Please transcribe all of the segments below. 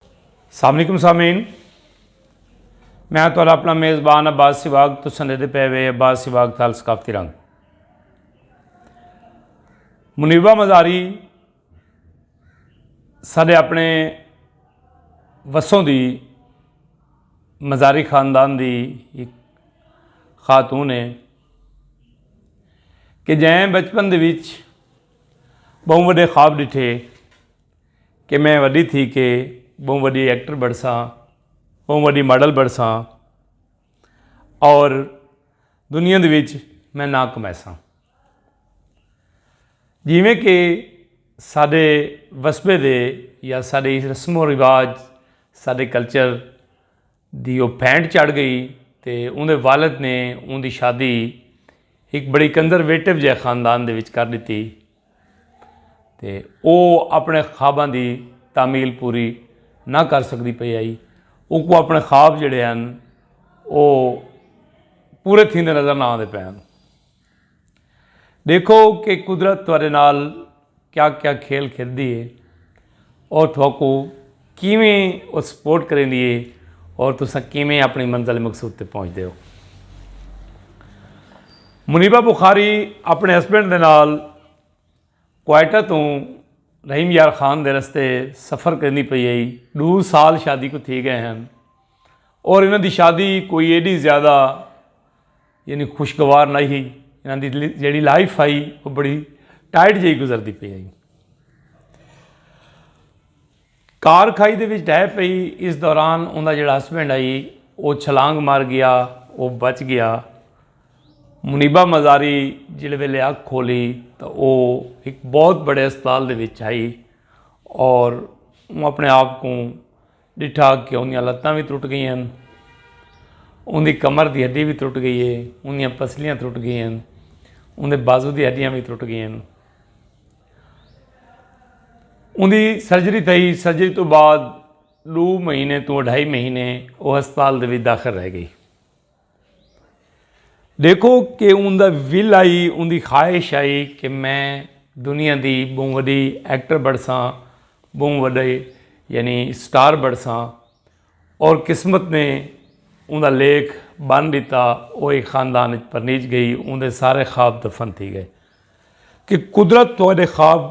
السلام علیکم سامعین میں تو اپنا میزبان عباس سواگ تو سندے دے پے وے عباس سواگ تال ثقافتی رنگ منیبہ مزاری سارے اپنے وسوں دی مزاری خاندان دی ایک خاتون ہے کہ جائیں بچپن دے وچ بہوں وڈے خواب ڈٹھے کہ میں وݙی تھی کے ٻہوں وݙی ایکٹر بݨساں ٻہوں وݙی ماڈل بݨساں اور دنیا دے وچ میں ناں کمائیساں جیویں کہ ساݙے وسبے دے یا ساݙے رسم و رواج ساݙے کلچر دی او پھینٹ چڑھ گئی تے اوندے والد نے اوندی شادی ہک بڑی کنزرویٹو جئے خاندان دے وچ کر ݙتی تے او اپݨے خواباں دی تعمیل پوری نہ کر سڳدی پئی ہئی۔ اوکوں اپݨے خواب جیڑھے ہن او پورے تھیندے نظر نہ آندے پئے ہن۔ ڈیکھو کہ قدرت تہاڈے نال کیا کیا کھیل کھیلدی ہے اور تہاکو کیویں او سپورٹ کریندی ہے اور تسا کیویں اپنی منزل مقصود تے پہنچ دے ہو منیبہ بخاری اپنے ہسبینڈ دے نال کوائٹہ تو رحیم یار خان دے رستے سفر کریندی پئی ہے دو سال شادی کو تھی گئے ہیں اور انہاں دی شادی کوئی ایڈی زیادہ یعنی خوشگوار نہ ہی انہاں دی جیڑی لائف آئی وہ بڑی ٹائٹ جی گزر دی پی آئی کار کھائی دے وچ ڈہ پئی اس دوران انہاں جڑا ہسبینڈ آئی وہ چھلانگ مار گیا وہ بچ گیا منیبہ مزاری جڑے ویلے اگ کھولی تو وہ ایک بہت بڑے اسپتال دے وچ آئی اور وہ اپنے آپ کو ڈٹھا کہ اوندیاں لتاں وی ترٹ گئیاں ہن۔ اوندی کمر دی ہڈی وی ترٹ گئی ہے۔ اوندیاں پسلیاں ترٹ گئیاں ہن۔ اوندے بازو دی ہڈیاں وی ترٹ گئیاں ہن۔ اوندی سرجری تھئی۔ سرجری توں بعد ڈو مہینے توں اڈھائی مہینے او ہسپتال دے وچ داخل رہ گئی۔ دیکھو کہ ان دا ول آئی ان دی خواہش آئی کہ میں دنیا دی بہوں وڈی ایکٹر بڑھساں بہوں وڈے یعنی سٹار بڑھساں اور قسمت نے ان دا لیکھ بن دیتا وہ ایک خاندان اچ پرنیج گئی ان دے سارے خواب دفن تھی گئے کہ قدرت تو خواب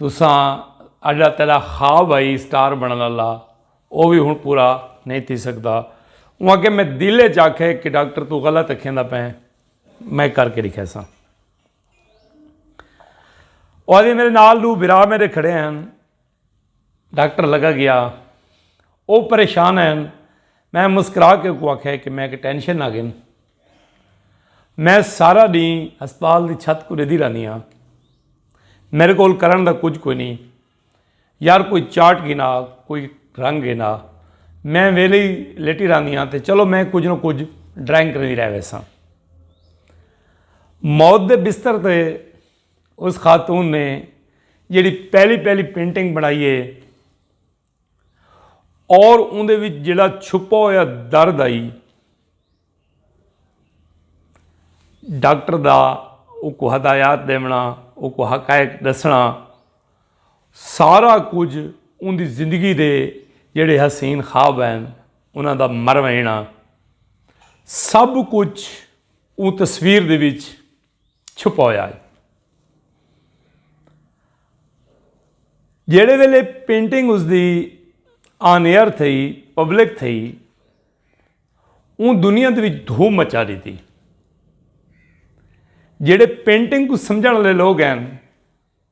تساں اڈا تیڈا خواب ہئی اسٹار بنڑن آلا او وی ہن پورا نئیں تھی سگدا۔ اوں آکھیا میں دل اچ آکھے کہ ڈاکٹر توں غلط اکھیندا پئیں میں کر کے ڈکھیساں۔ او آدھی میڈے نال ڈو بھرا میڈے کھڑے ہن ڈاکٹر لگا گیا او پریشان ہن میں مسکرا کے اکوں آکھے کہ میں کہ ٹینشن نہ گھن۔ میں سارا ڈینہہ ہسپتال دی چھت کوں ڈیدھی رہنی ہاں۔ میرے کول کرن دا کجھ کوئی نی۔ یار کوئی چارٹ گھن آ، کوئی رنگ گھن آ۔ میں ویلھے ہی لیٹی رہنی ہاں تے چلو میں کجھ نہ کجھ ڈرائنگ کریندی رہ ویساں۔ موت دے بستر تے اس خاتون نے جیہڑی پہلی پہلی پینٹنگ بنائی ہے۔ اور اوندے وچ جڑا چھپا ہویا درد آئی ڈاکٹر دا او کو ہدایات دیونا او کو حقائق دسنا سارا کچھ ان دی زندگی دے جڑے حسین خواب ہیں انہاں دا مروینا سب کچھ اون تصویر دے وچ چھپایا ہے۔ جیڑھے ویلے پینٹنگ اس دی آن ایئر تھئی، پبلک تھئی، اوں دنیا دے وچ دھوم مچا ݙتی۔ جیڑھے پینٹنگ کوں سمجھݨ آلے لوگ ہن۔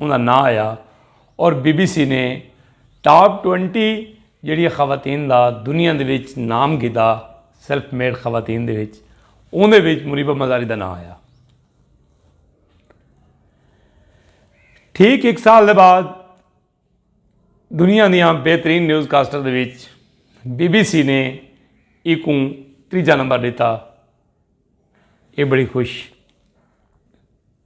انہاں نہ آیا اور بی بی سی نے ٹاپ ٹوئنٹی جیڑھیاں خواتین دا دنیا دے وچ نام گھدا سیلف میڈ خواتین دے وچ اوندے وچ منیبہ مزاری دا ناں آیا۔ ٹھیک ہک سال دے بعد دنیا دیاں بہترین نیوز کاسٹر دے وچ بی بی سی نے ایکوں تریجا نمبر ڈیتا اے بڑی خوش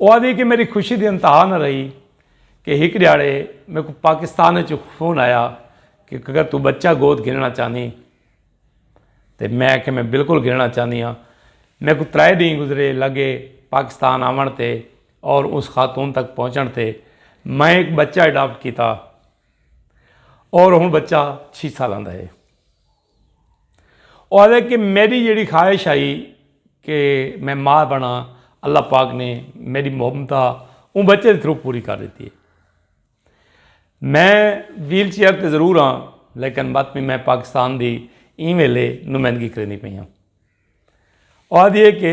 او آدھی کہ میری خوشی دی انتہا نہ رہی کہ ہک ڈیاڑے میرے کو پاکستان وچ فون آیا کہ اگر تو بچہ گود گھننا چاہنی تے میں کہ میں بالکل گھننا چاہنی ہاں میرے کو ترائے دیں گزرے لگے پاکستان آون تے اور اس خاتون تک پہنچن تے میں ایک بچہ اڈاپٹ کیتا اور ہوں بچہ چھی سالاں دا ہے او آدھے کہ میڈی جیڑی خواہش ہائی کہ میں ماء بنڑاں اللہ پاک نے میڈی محبتہ اوں بچے دے تھرو پوری کر دیتی ہے۔ میں ویل چیئر تے ضرور ہاں لیکن مت بھی میں پاکستان دی ایں ویلے نمائندگی کریندی پئی ہاں۔ او آدھی ہے کہ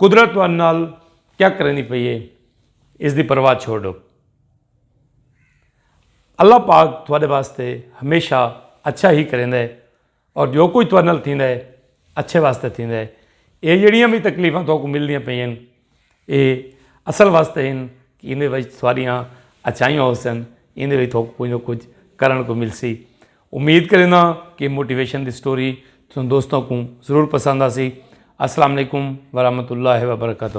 قدرت تہاڈے نال کیا کریندی پئی ہے اس دی پرواہ چھوڑو۔ اللہ پاک تہاڈے واسطے ہمیشہ اچھا ہی کریندا ہے اور جو کچھ تہاڈے نال تھیندا ہے اچھے واسطے تھیندا ہے۔ ایہ جیڑیاں وی تکلیفاں تہاکوں ملدیاں پئیاں ہن ایہ اصل واسطے ہن کہ ایندے وچ تہاڈیاں اچھائیاں ہوسن ایندے وچ تہاکوں کچھ نہ کچھ کرݨ کوں ملسی۔ امید کرینداں کہ موٹیویشن دی سٹوری تساں دوستاں کوں ضرور پسند آسی السلام علیکم ورحمۃ اللہ وبرکاتہ